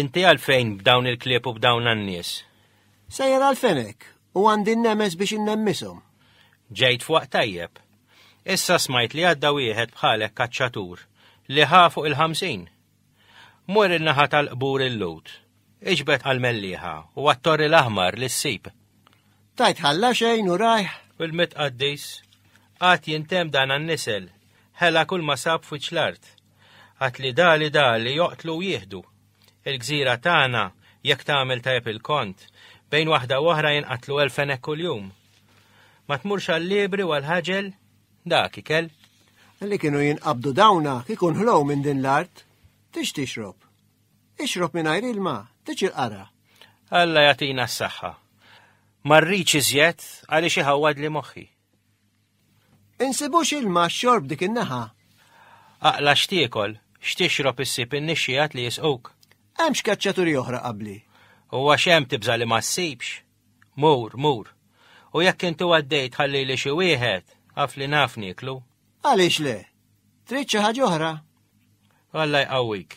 Inti għalfejn b'dawn il-klieb u b'dawn għan-nies? Sejjer għalfejn hekk u għandi n-nemes biex innemmisom. Ġejt fuq tajjeb. Issa smajt li għadda wieħed bħalek kaċċatur li ħa fuq il-ħamsin. Mur il-naħa tal-qbur il-lut, iġbet għal-melliħa u għattor l-aħmar li s-sib. Tajt ħalla xejn u rajħ. Il-mitqaddis, għat jintem dan għan-nisel, ħela kull ma sab fuċ l-art. Għad li dali dali joqtlu u jieħdu. Il-gżira tagħna, jekk tagħmel tajjeb il-kont, bejn waħda u oħra jinqatlu elf fenek kuljum. Ma tmurx għall-libri u għall-ħaġel dak ikel. Li kienu jinqabdu dawna kikun ħlow minn din l-art, tix tixrob. Ixrob minn għajr ilma, tix il-qara. Alla jatina s-saxħa. Marriċ iżjed għaliex iħawad li moħħi. Insibux ilma xorb dik in-naħa. Aqla x'tiekol, x'tixrob issib in-nixxiegħat li jisquk. Hemm x'keċċaturi oħra qabli. U għax hemm tibża' li ma ssibx. Mur, mur. U jekk intu għaddejt ħalli li xi wieħed, għaf li naf niklu. Għaliex le? Trid xi ħaġa oħra? Alla jqawwik.